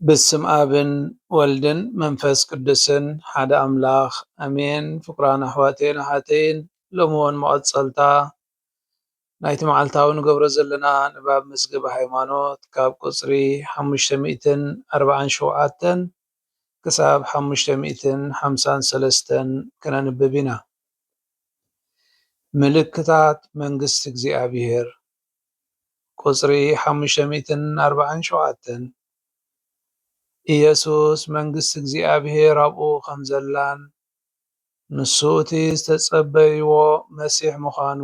ብስም ኣብን ወልድን መንፈስ ቅዱስን ሓደ ኣምላኽ ኣሜን። ፍቁራን ኣሕዋተይን ኣሓተይን ሎሚ እውን መቐጸልታ ናይቲ መዓልታዊ ንገብሮ ዘለና ንባብ መዝገበ ሃይማኖት ካብ ቁጽሪ ሓሙሽተ ሚእትን ኣርብዓን ሸውዓተን ክሳብ ሓሙሽተ ሚእትን ሓምሳን ሰለስተን ከነንብብ ኢና። ምልክታት መንግስቲ እግዚኣብሄር፣ ቁጽሪ ሓሙሽተ ሚእትን ኣርብዓን ሸውዓተን፣ ኢየሱስ መንግስቲ እግዚኣብሄር ኣብኡ ከም ዘላን፣ ንሱ እቲ ዝተጸበይዎ መሲሕ ምዃኑ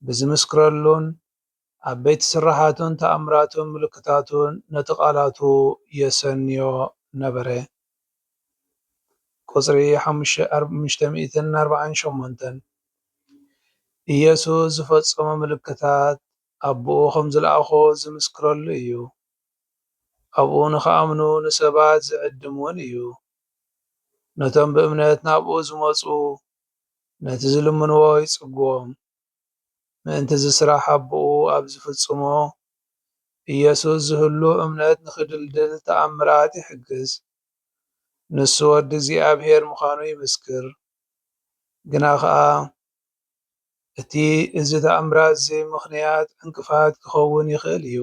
ብዚምስክረሉን ዓበይቲ ስርሓቱን ተኣምራቱን ምልክታቱን ነቲ ቓላቱ የሰንዮ ነበረ። ቁጽሪ ሓሙሽተ ሚእትን ኣርባዓን ሸሞንተን፣ ኢየሱስ ዝፈጸሞ ምልክታት ኣቦኡ ኸም ዝለኣኾ ዚምስክረሉ እዩ። ኣብኡ ንኺኣምኑ ንሰባት ዚዕድም እውን እዩ። ነቶም ብእምነት ናብኡ ዝመጹ ነቲ ዝልምንዎ ይጽግዎም። ምእንቲ እዚ ስራሕ ኣቦኡ ኣብ ዝፍጽሞ ኢየሱስ ዝህሉ እምነት ንኽድልድል ተኣምራት ይሕግዝ። ንሱ ወዲ እግዚኣብሔር ምዃኑ ይምስክር። ግናኸኣ እቲ እዚ ተኣምራት እዚ ምኽንያት ዕንቅፋት ክኸውን ይኽእል እዩ።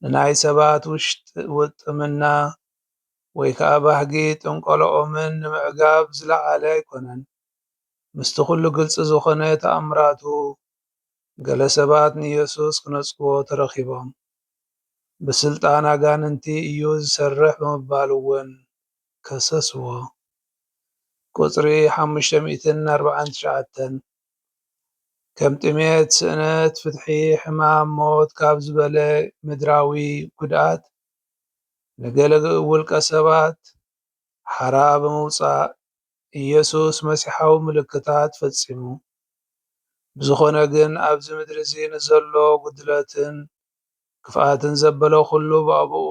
ንናይ ሰባት ውጥምና ወይ ከኣ ባህጊ ጥንቆሎኦምን ንምዕጋብ ዝለዓለ ኣይኮነን። ምስቲ ኩሉ ግልጺ ዝኾነ ተኣምራቱ ገለ ሰባት ንየሱስ ክነጽግዎ ተረኺቦም። ብስልጣን ኣጋንንቲ እዩ ዝሰርሕ ብምባል እውን ከሰስዎ። ቁጽሪ ሓሙሽተ ሚእትን ኣርብዓን ትሽዓተን፣ ከም ጥሜት፣ ስእነት ፍትሒ፣ ሕማም፣ ሞት ካብ ዝበለ ምድራዊ ጉድኣት ንገለ ውልቀ ሰባት ሓራ ብምውጻእ ኢየሱስ መሲሓዊ ምልክታት ፈጺሙ። ብዝኾነ ግን ኣብዚ ምድሪ'ዚ ንዘሎ ጉድለትን ክፍኣትን ዘበለ ኩሉ ብኣቡኡ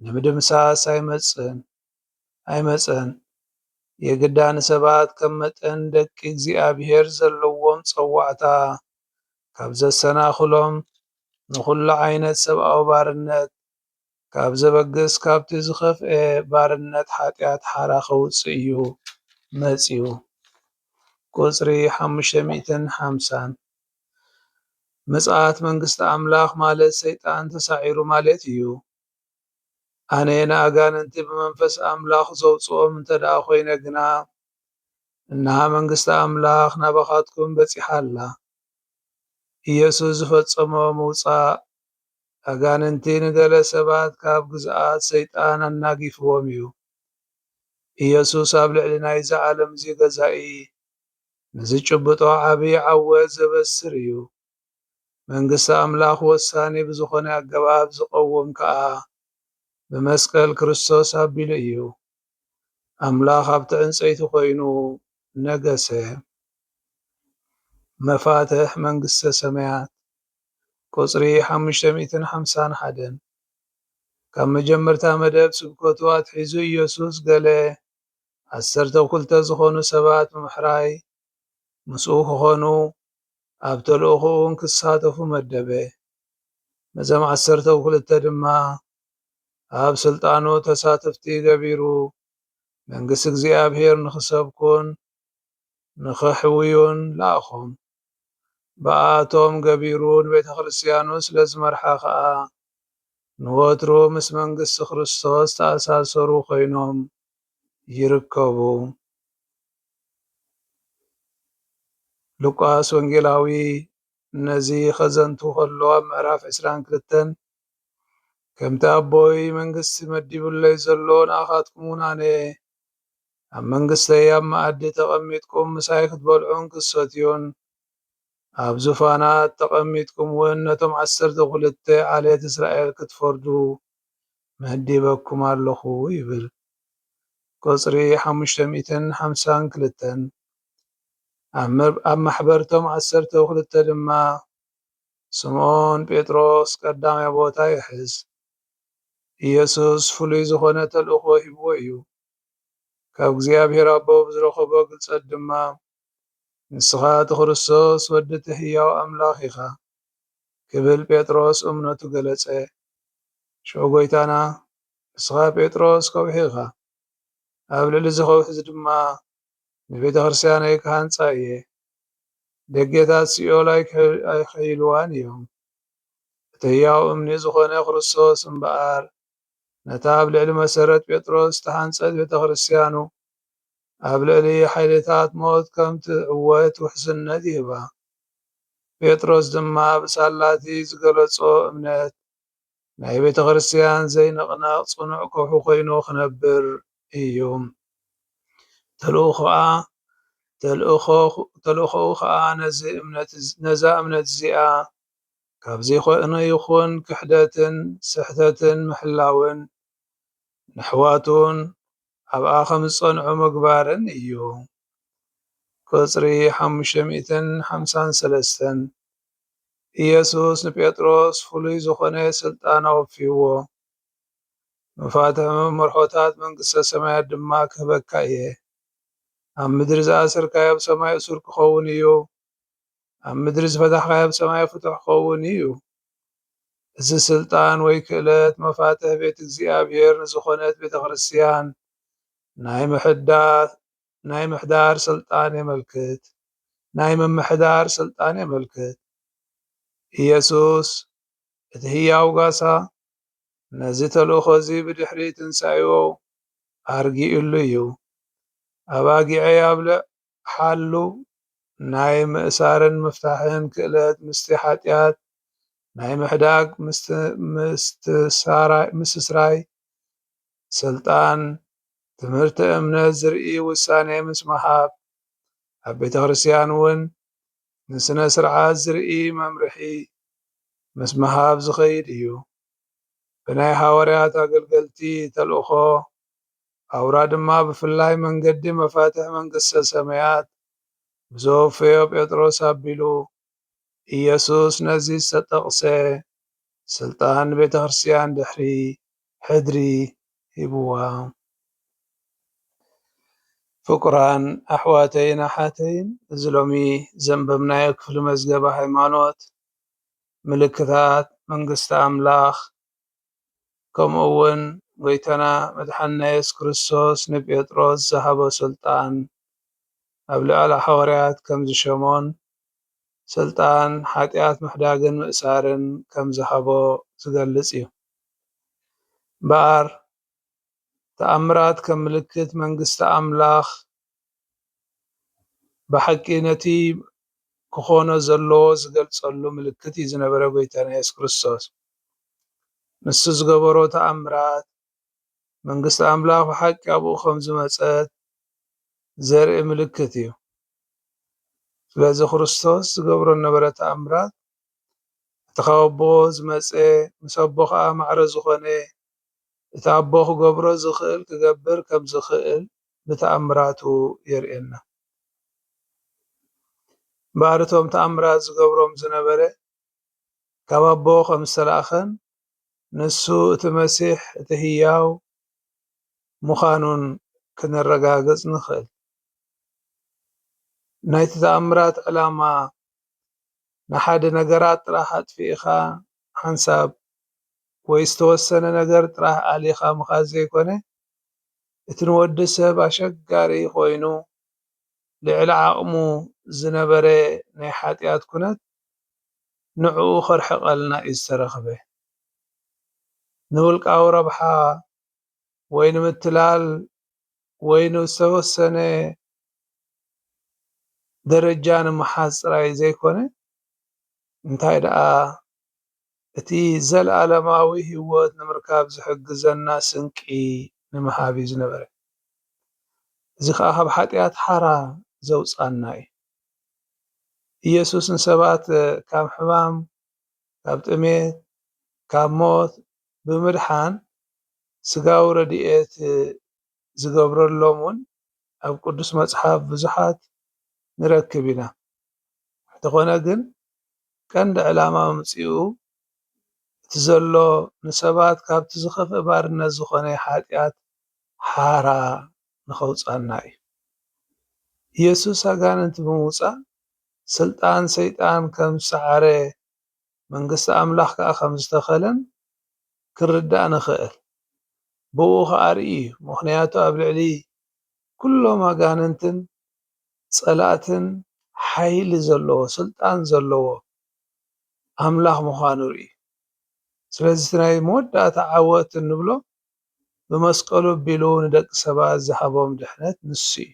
ንምድምሳስ ኣይመጽእን ኣይመጸን የግዳ ንሰባት ከም መጠን ደቂ እግዚኣብሔር ዘለዎም ጸዋዕታ ካብ ዘሰናኽሎም ንኹሉ ዓይነት ሰብኣዊ ባርነት ካብ ዘበግስ ካብቲ ዝኸፍኤ ባርነት ሓጢኣት ሓራ ከውጽእ እዩ መጺኡ ቁጽሪ ሓሙሽተ ሚእትን ሓምሳን ምጽኣት መንግስቲ ኣምላኽ ማለት ሰይጣን ተሳዒሩ ማለት እዩ። ኣነ ንኣጋንንቲ ብመንፈስ ኣምላኽ ዘውጽኦም እንተ ደኣ ዀይነ ግና፣ እንሃ መንግስቲ ኣምላኽ ናባኻትኩም በጺሓ ኣላ። ኢየሱስ ዝፈጸሞ ምውጻእ ኣጋንንቲ ንገለ ሰባት ካብ ግዝኣት ሰይጣን ኣናጊፍዎም እዩ። ኢየሱስ ኣብ ልዕሊ ናይዚ ዓለም እዚ ገዛኢ ንዝጭብጦ ዓብዪ ዓወት ዘበስር እዩ። መንግስቲ ኣምላኽ ወሳኒ ብዝኾነ ኣገባብ ዝቐውም ከኣ ብመስቀል ክርስቶስ ኣቢሉ እዩ። ኣምላኽ ኣብቲ ዕንጸይቲ ኮይኑ ነገሰ። መፋትሕ መንግስተ ሰማያት ቁጽሪ ሓሙሽተ ሚእትን ሓምሳን ሓደን ካብ መጀመርታ መደብ ስብከቱ ኣትሒዙ ኢየሱስ ገለ ዓሰርተ ኩልተ ዝኾኑ ሰባት ብምሕራይ ምስኡ ክኾኑ ኣብ ተልእኾኡን ክሳተፉ መደበ። ነዞም ዓሰርተው ክልተ ድማ ኣብ ስልጣኑ ተሳተፍቲ ገቢሩ መንግስቲ እግዚኣብሔር ንኽሰብኩን ንኸሕውዩን ለኣኾም። ብኣኣቶም ገቢሩ ንቤተ ክርስቲያኑ ስለ ዝመርሓ ኸኣ ንወትሩ ምስ መንግስቲ ክርስቶስ ዝተኣሳሰሩ ኮይኖም ይርከቡ። ሉቃስ ወንጌላዊ ነዚ ኸዘንቱ ኸሎ ኣብ ምዕራፍ ዕስራን ክልተን ከምቲ ኣቦይ መንግስቲ መዲቡለይ ዘሎ ንኣኻትኩም እውን ኣነ ኣብ መንግስተይ ኣብ መኣዲ ተቐሚጥኩም ምሳይ ክትበልዑን ክትሰትዩን ኣብ ዙፋናት ተቐሚጥኩም እውን ነቶም ዓሰርተ ኹልተ ዓሌት እስራኤል ክትፈርዱ መዲበኩም ኣለኹ ይብል። ቁጽሪ ሓሙሽተ ሚእትን ሓምሳን ክልተን ኣብ ማሕበር ቶም ዓሰርተው ክልተ ድማ ስምኦን ጴጥሮስ ቀዳማይ ቦታ ይሕዝ። ኢየሱስ ፍሉይ ዝኾነ ተልእኾ ሂብዎ እዩ። ካብ እግዚኣብሔር ኣቦ ብዝረኸቦ ግልጸት ድማ ንስኻ እቲ ክርስቶስ ወዲ እቲ ህያው ኣምላኽ ኢኻ ክብል ጴጥሮስ እምነቱ ገለጸ። ሽዑ ጐይታና ንስኻ ጴጥሮስ ከውሒ ኢኻ፣ ኣብ ልዕሊ እዚ ከውሒ እዚ ድማ ንቤተ ክርስቲያነይ ክሃንጻ እየ፣ ደጌታት ሲኦል ኣይከይልዋን እዮም። እቲ ህያው እምኒ ዝኾነ ክርስቶስ እምበኣር ነታ ኣብ ልዕሊ መሰረት ጴጥሮስ ዝተሃንጸት ቤተክርስትያኑ ኣብ ልዕሊ ሓይልታት ሞት ከም ትዕወት ውሕስነት ይህባ። ጴጥሮስ ድማ ብሳላ እቲ ዝገለጾ እምነት ናይ ቤተክርስትያን ዘይንቕነቕ ጽኑዕ ከውሒ ኮይኑ ክነብር እዩ። ተልእኾኣ ተልእኾኡ ከኣ ነዚ እምነት ነዛ እምነት እዚኣ ካብ ዘይኮነ ይኹን ክሕደትን ስሕተትን ምሕላውን ነሕዋቱን ኣብኣ ከም ዝጸንዑ ምግባርን እዩ። ቍጽሪ ሓሙሽተ ሚእትን ሓምሳን ሰለስተን፣ ኢየሱስ ንጴጥሮስ ፍሉይ ዝኾነ ስልጣን ኣወፊይዎ፣ መፋትሕ መመርሖታት መንግስተ ሰማያት ድማ ክህበካ እየ፣ ኣብ ምድሪ ዝኣሰርካዮ ኣብ ሰማይ እሱር ክኸውን እዩ፣ ኣብ ምድሪ ዝፈታሕካዮ ኣብ ሰማይ ፍቱሕ ክኸውን እዩ። እዚ ስልጣን ወይ ክእለት መፋትሕ ቤት እግዚኣብሔር ንዝኾነት ቤተ ክርስቲያን ናይ ምሕዳር ስልጣን የመልክት። ናይ ምምሕዳር ስልጣን የመልክት። ኢየሱስ እቲ ህያው ጋሳ ነዚ ተልእኾ እዚ ብድሕሪ ትንሣኤኡ ኣርጊኡሉ እዩ። ኣባጊዐይ ኣብልዕ ሓሉ ናይ ምእሳርን ምፍታሕን ክእለት ምስቲ ሓጢኣት ናይ ምሕዳግ ምስስራይ ስልጣን ትምህርተ እምነት ዝርኢ ውሳኔ ምስ ምሃብ ኣብ ቤተ ክርስቲያን እውን ንስነ ስርዓት ዝርኢ መምርሒ ምስ ምሃብ ዝኸይድ እዩ። ብናይ ሃዋርያት ኣገልገልቲ ተልእኮ ኣውራ ድማ ብፍላይ መንገዲ መፋትሕ መንግስተ ሰማያት ብዘወፈዮ ጴጥሮስ ኣቢሉ ኢየሱስ ነዚ ዝተጠቕሰ ስልጣን ንቤተ ክርስቲያን ድሕሪ ሕድሪ ሂብዋ። ፍቁራን ኣሕዋተይን ኣሓተይን እዚ ሎሚ ዘንበብናዮ ክፍሊ መዝገበ ሃይማኖት ምልክታት መንግስቲ ኣምላኽ ከምኡውን ጎይታና መድሓኒና የሱስ ክርስቶስ ንጴጥሮስ ዝሃቦ ስልጣን ኣብ ልዕሊ ሓወርያት ከም ዝሸሞን ስልጣን ሓጢኣት ምሕዳግን ምእሳርን ከም ዝሃቦ ዝገልጽ እዩ። እምበኣር ተኣምራት ከም ምልክት መንግስቲ ኣምላኽ ብሓቂ ነቲ ክኾኖ ዘለዎ ዝገልጸሉ ምልክት እዩ ዝነበረ ጎይታና የሱስ ክርስቶስ ንሱ ዝገበሮ ተኣምራት መንግስቲ ኣምላኽ ብሓቂ ኣብኡ ከም ዝመጸት ዘርኢ ምልክት እዩ ስለዚ ክርስቶስ ዝገብሮ ነበረ ተኣምራት እቲ ካብ ኣቦ ዝመጸ ምስ ኣቦ ከኣ ማዕረ ዝኾነ እቲ ኣቦ ክገብሮ ዝኽእል ክገብር ከም ዝኽእል ብተኣምራቱ የርእየና። እምበኣር እቶም ተኣምራት ዝገብሮም ዝነበረ ካብ ኣቦ ከም ዝተላእከን ንሱ እቲ መሲሕ እቲ ህያው ምዃኑን ክነረጋግጽ ንኽእል። ናይቲ ተኣምራት ዕላማ ንሓደ ነገራት ጥራሕ ኣጥፊእኻ ሓንሳብ ወይ ዝተወሰነ ነገር ጥራሕ ኣሊኻ ምኻድ ዘይኮነ፣ እቲ ንወዲ ሰብ ኣሸጋሪ ኮይኑ ልዕሊ ዓቕሙ ዝነበረ ናይ ሓጢኣት ኩነት ንዕኡ ከርሕቐልና እዩ ዝተረኽበ። ንውልቃዊ ረብሓ ወይ ንምትላል ወይ ንዝተወሰነ ደረጃ ንምሓዝ ጥራይ ዘይኮነ እንታይ ደኣ እቲ ዘለኣለማዊ ህይወት ንምርካብ ዝሕግዘና ስንቂ ንምሃብ እዩ ዝነበረ። እዚ ኸኣ ካብ ሓጢኣት ሓራ ዘውጽኣና እዩ። ኢየሱስ ንሰባት ካብ ሕማም ካብ ጥሜት ካብ ሞት ብምድሓን ስጋዊ ረድኤት ዝገብረሎም ውን ኣብ ቅዱስ መጽሓፍ ብዙሓት ንረክብ ኢና እንተኾነ ግን ቀንዲ ዕላማ ምምጺኡ እቲ ዘሎ ንሰባት ካብቲ ዝኸፍእ ባርነት ዝኾነ ሓጢኣት ሓራ ንኸውጽኣና እዩ። ኢየሱስ ኣጋንንቲ ብምውጻእ ስልጣን ሰይጣን ከም ዝሰዓረ መንግስቲ ኣምላኽ ከኣ ከም ዝተኸለን ክንርዳእ ንኽእል። ብእኡ ከኣ ርእዩ እዩ ምኽንያቱ ኣብ ልዕሊ ኩሎም ኣጋንንትን ጸላእትን ሓይሊ ዘለዎ ስልጣን ዘለዎ ኣምላኽ ምዃኑ ርእዩ። ስለዚ እቲ ናይ መወዳእታ ዓወት እንብሎ ብመስቀሉ ኣቢሉ ንደቂ ሰባት ዝሃቦም ድሕነት ንሱ እዩ።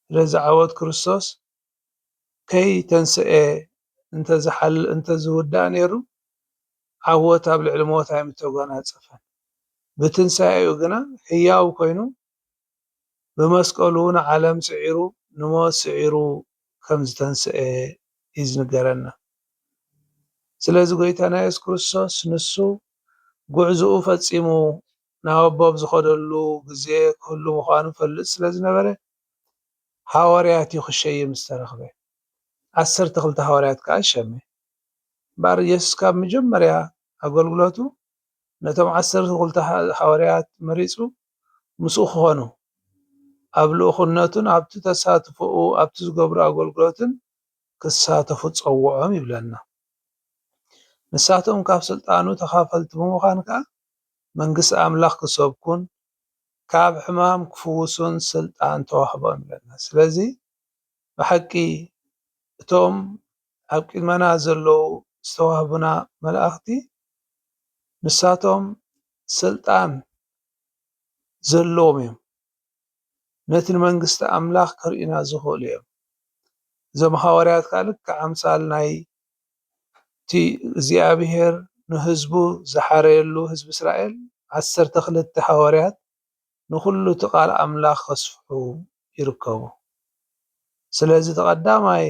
ስለዚ ዓወት ክርስቶስ ከይተንስኤ እንተዝውዳእ ነይሩ ዓወት ኣብ ልዕሊ ሞት ኣይምተጎናጸፈን። ብትንሳኤኡ ግና ሕያው ኮይኑ ብመስቀሉ ንዓለም ስዒሩ ንሞት ስዒሩ ከም ዝተንሰኤ እዩ ዝንገረና ስለዚ ጎይታና የሱስ ክርስቶስ ንሱ ጉዕዝኡ ፈጺሙ ናብ ኣቦ ኣብ ዝኸደሉ ግዜ ክህሉ ምዃኑ ይፈልጥ ስለ ዝነበረ ሃዋርያት እዩ ክሸይም ዝተረኽበ ዓሰርተ ክልተ ሃዋርያት ከኣ ሸመ እምበኣር የሱስ ካብ መጀመርያ ኣገልግሎቱ ነቶም ዓሰርተ ክልተ ሃዋርያት መሪጹ ምስኡ ክኾኑ፣ ኣብ ልኡኽነቱን ኣብቲ ተሳትፎኡ ኣብቲ ዝገብሮ ኣገልግሎትን ክሳተፉ ጸውዖም ይብለና። ንሳቶም ካብ ስልጣኑ ተኻፈልቲ ብምዃን ከኣ መንግስቲ ኣምላኽ ክሰብኩን ካብ ሕማም ክፍውሱን ስልጣን ተዋህቦም ይብለና። ስለዚ ብሓቂ እቶም ኣብ ቅድመና ዘለዉ ዝተዋህቡና መላእኽቲ ንሳቶም ስልጣን ዘለዎም እዮም። ነቲ ንመንግስቲ ኣምላኽ ከርእዩና ዝኽእሉ እዮም። እዞም ሃዋርያት ከኣ ልክዕ ኣምሳል ናይቲ እግዚኣብሄር ንህዝቡ ዝሓረየሉ ህዝቢ እስራኤል ዓሰርተ ክልተ ሃዋርያት ንኹሉ እቲ ቃል ኣምላኽ ከስፍሑ ይርከቡ። ስለዚ እቲ ቀዳማይ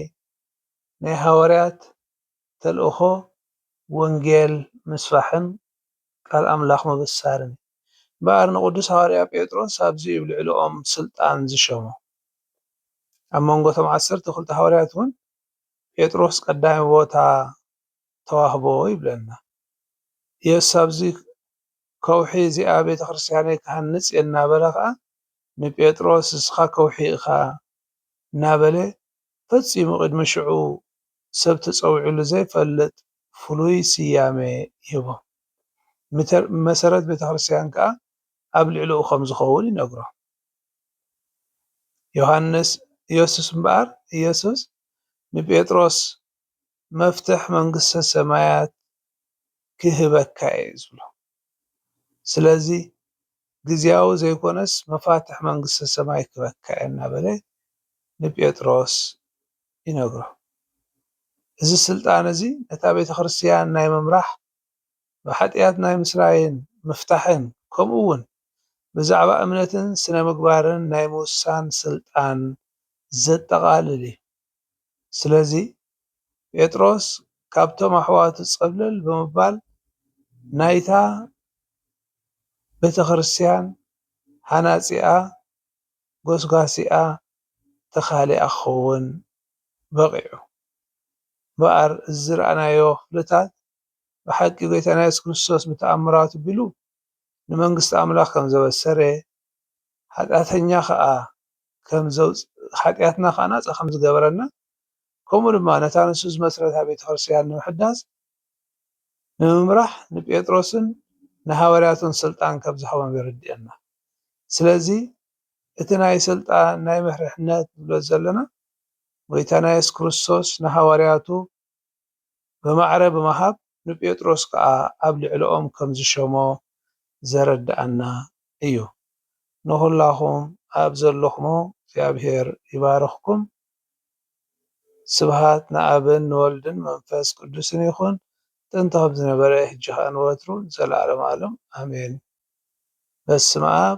ናይ ሃዋርያት ተልእኾ ወንጌል ምስፋሕን ቃል ኣምላኽ ምብሳርን እዩ። እምበኣር ንቕዱስ ሃዋርያ ጴጥሮስ ኣብዚ ኣብ ልዕልኦም ስልጣን ዝሸሞ። ኣብ መንጎ እቶም ዓሰርተ ክልተ ሃዋርያት እውን ጴጥሮስ ቀዳሚ ቦታ ተዋህቦ ይብለና። ኢየሱስ ኣብዚ ከውሒ እዚኣ ቤተ ክርስቲያነይ ክሃንጽ እየ እናበለ ኸኣ ንጴጥሮስ እስኻ ከውሒ ኢኻ እናበለ ፈጺሙ ቅድሚ ሽዑ ሰብ ተጸዊዑሉ ዘይፈልጥ ፍሉይ ስያመ ይህቦ። መሰረት ቤተክርስትያን ከኣ ኣብ ልዕሊኡ ከም ዝኸውን ይነግሮ። ዮሃንስ ኢየሱስ እምበኣር ኢየሱስ ንጴጥሮስ መፍትሕ መንግስተ ሰማያት ክህበካ እየ ዝብሎ። ስለዚ ግዝያዊ ዘይኰነስ መፋትሕ መንግስተ ሰማይ ክህበካ እየ እናበለ ንጴጥሮስ ይነግሮ። እዚ ስልጣን እዚ ነታ ቤተ ክርስትያን ናይ ምምራሕ፣ ብሓጢኣት ናይ ምስራይን ምፍታሕን ከምኡ እውን ብዛዕባ እምነትን ስነ ምግባርን ናይ ምውሳን ስልጣን ዘጠቓልል እዩ። ስለዚ ጴጥሮስ ካብቶም ኣሕዋቱ ጸብለል ብምባል ናይታ ቤተ ክርስትያን ሃናጺኣ ጎስጓሲኣ ተኻሊኣ ክኸውን በቒዑ። እምበኣር እዚ ዝረኣናዮ ክፍልታት ብሓቂ ጐይታና የሱስ ክርስቶስ ብተኣምራቱ ኣቢሉ ንመንግስቲ ኣምላኽ ከም ዘበሰረ፣ ሓጢኣተኛ ኸኣ ከም ዘውጽ ሓጢኣትና ኸኣ ናጻ ከም ዝገበረና፣ ከምኡ ድማ ነታ ንሱ ዝመስረታ ቤተ ክርስቲያን ንምሕዳስ ንምምራሕ ንጴጥሮስን ንሃዋርያቱን ስልጣን ከም ዝሃቦም የረድእየና። ስለዚ እቲ ናይ ስልጣን ናይ መርሕነት ንብሎ ዘለና ጎይታና የሱስ ክርስቶስ ንሃዋርያቱ ብማዕረ ብምሃብ ንጴጥሮስ ከኣ ኣብ ልዕለኦም ከም ዝሸሞ ዘረድኣና እዩ። ንኹላኹም ኣብ ዘለኹሞ እግዚኣብሔር ይባርኽኩም። ስብሃት ንኣብን ንወልድን መንፈስ ቅዱስን ይኹን ጥንቲ ከም ዝነበረ ሕጂ ከኣ ንወትሩ ንዘለዓለም ኣለም ኣሜን በስመኣብ